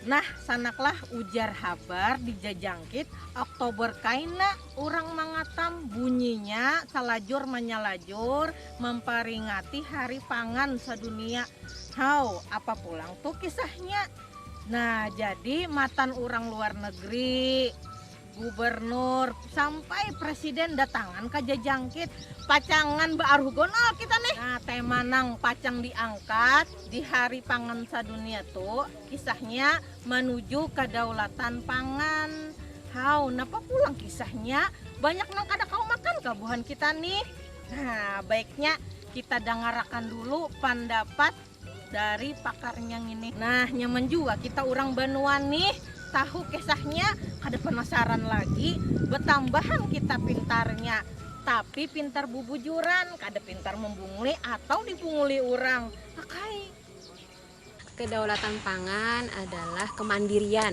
Nah sanaklah ujar habar di jajangkit Oktober kaina urang mangatam bunyinya salajur manyalajur mamparingati hari pangan sadunia. Haw apa pulang tu kisahnya. Nah jadi matan urang luar negeri. Gubernur sampai presiden datangan ka jajangkit, pacangan baaruhgonal kita nih. Nah, tema nang pacang diangkat di Hari Pangan Sadunia tu kisahnya manuju kadaulatan pangan. Haw, napa pulang kisahnya? Banyak nang kada kawa makan kah buhan kita nih? Nah, baiknya kita dangarakan dulu pandapat dari pakarnya ini nah nyaman jua kita orang banua nih tahu kisahnya kada penasaran lagi betambahan kita pintarnya tapi pintar bubujuran kada pintar membunguli atau dibunguli orang okay. Kedaulatan pangan adalah kemandirian.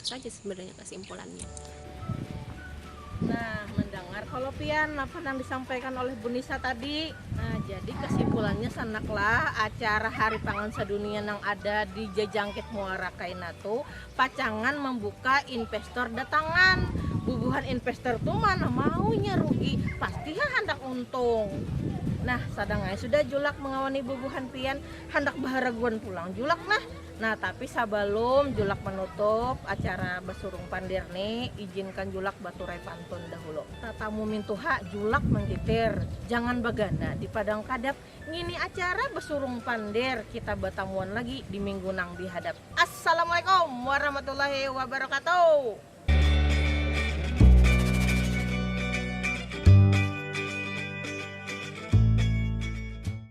saja sebenarnya kesimpulannya nah mendengar kalau pian apa yang disampaikan oleh Bu Nisa tadi nah jadi kesimpulannya sanaklah acara hari pangan sedunia yang ada di jejangkit muara kainatu pacangan membuka investor datangan bubuhan investor tuh mana maunya rugi pasti ya handak untung nah sadangai sudah julak mengawani bubuhan pian handak baharaguan pulang julak nah Nah tapi sabalum julak manutup acara basurung pandir ni, ijinkan julak baturai pantun dahulu. Tatamu mintuha julak mangkitir, jangan bagana di padang kadap, ngini acara basurung pandir, kita batamuan lagi di minggu nang dihadap. Assalamualaikum warahmatullahi wabarakatuh.